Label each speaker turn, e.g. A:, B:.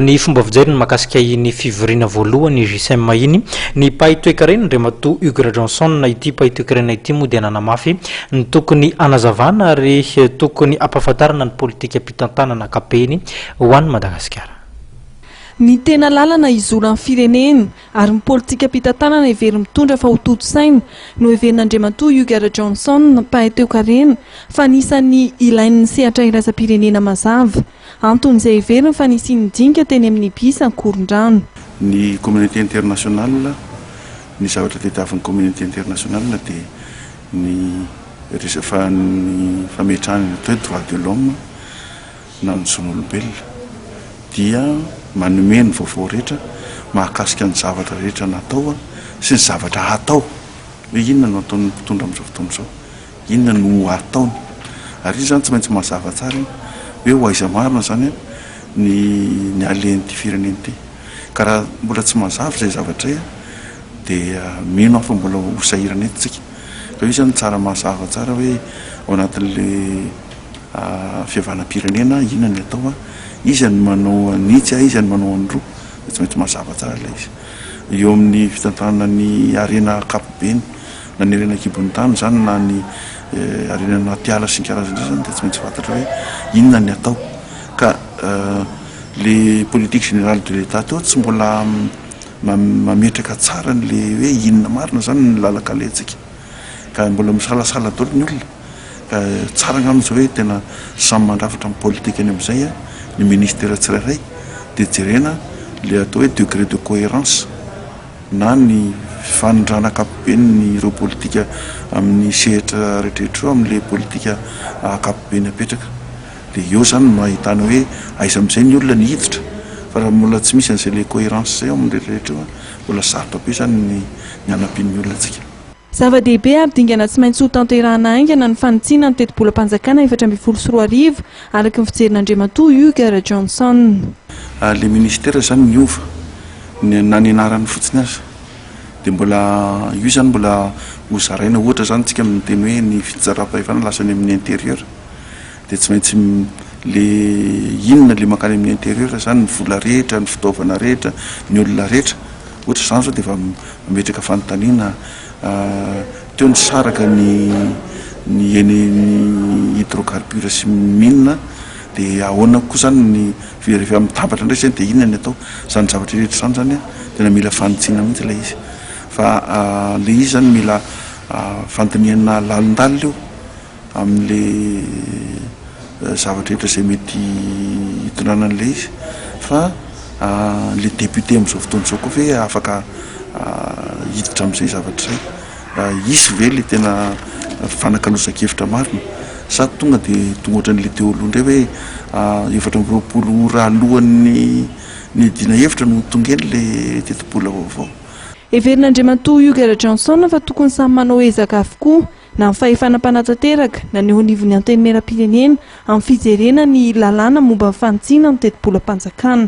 A: Ny fomba fijeriny mahakasika iny fivoriana voalohany JCEM iny, ny mpahay toekarena Andriamatoa Hugues Rajohnson, ity mpahay toekarena ity moa dia nanamafy ny tokony hanazavana ary tokony hampahafantarana ny politikam-pitantanana ankapobeny ho an'i Madagasikara. Ny
B: tena lalana hizoran'ny firenena ary ny politikam-pitantanana heveriny mitondra fa hotontosaina, no heverin'Andriamatoa Hugues Rajohnson, mpahay toekarena, fa anisan'ny ilain'ny sehatra iraisam-pirenena mazava. Antony izay heveriny fa nisian'ny dinika teny amin'ny bus Ankorondrano. Ny communauté
C: internationale, ny zavatra tadiavin'ny communauté internationale dia ny resafa ny fametrahana ny atao hoe droit de l'homme na ny zon'olombelona dia manome ny vaovao rehetra mahakasika ny zavatra rehetra natao sy ny zavatra hatao hoe inona no ataon'ny mpitondra amin'izao fotoana izao. Inona no ataony? Ary izy zany tsy maintsy mazava tsara iny hoe ho aiza marina zany ny ny alen'ity firenena ity. Ka raha mbola tsy mazava izay zavatra izay dia mino aho fa mbola ho sahirana eto tsika. Ka io zany tsara mazava tsara hoe ao anatin'le fihavanam-pirenena inona ny atao an? Iza ny manao an'itsy a iza ny manao an'roa? Dia tsy maintsy mazava tsara ilay izy. Eo amin'ny fitantanana ny harena ankapobeny. Na ny harena an-kibon'ny tany izany na ny harena anaty ala sy ny karazany izany dia tsy maintsy fantatra hoe inona ny atao. Ka le politique générale de l'Etat teo tsy mbola mametraka tsara an'le hoe inona marina izany ny lalan-kaletsaka. Ka mbola misalasala daholo ny olona. Ka tsara angamba izao hoe tena samy mandrafitra ny politikany amin'izay ny ministera tsirairay dia jerena le atao hoe degré de cohérence. na ny fifanondrana ankapobeny ny ireo politika amin'ny sehatra rehetrarehetra ireo amin'ilay politika ankapobeny apetraka dia eo izany no ahitana hoe aiza amin'izay ny olona ny hiditra fa raha mbola tsy misy an'izay le coherence izay ao amin'ny rehetrarehetra eo an mbola sarotra be izany ny ny hanampian'ny olona antsika. Zava-dehibe ary
B: dingana tsy maintsy hotanterahina haingana ny fanitsiana ny tetibolam-panjakana efatra ambin'ny folo sy roa arivo, araka ny fijerin'Andriamatoa Hugues Rajohnson. Ary ilay
C: ministera izany niova, na ny anarany fotsiny aza. Dia mbola io izany mbola hozaraina ohatra izany isika miteny hoe ny fitsinjaram-pahefana lasa any amin'ny intérieur. dia tsy maintsy le inona le mankany amin'ny intérieur zany, ny vola rehetra, ny fitaovana rehetra, ny olona rehetra, ohatra zany zao dia efa mametraka fanontaniana teo nisaraka ny ny eny hydrocarbure sy mine dia ahoana koa zany ny rehefa mitambatra indray zay dia inona ny atao, zany zavatra rehetra zany zany an tena mila fanitsiana mihintsy ilay izy fa le izy zany mila fandinihana lalindalina io. amin'ilay zavatra rehetra izay mety hitondrana an'ilay izy fa ilay député amin'izao fotoana izao koa ve afaka hiditra amin'izay zavatra izay? Hisy ve ilay tena fifanakaloza-kevitra marina sa tonga dia tonga ohatran'ilay teo aloha indray hoe efatra amby roapolo ora alohan'ny niadiana hevitra no tonga eny ilay tetibola vaovao? Heverin'Andriamatoa
B: Hugues Rajaonson fa tokony samy manao ezaka avokoa na ny fahefana mpanatanteraka na ny eo anivon'ny Antenimierampirenena amin'ny fijerena ny lalàna momba ny fanitsiana ny tetibolam-panjakana.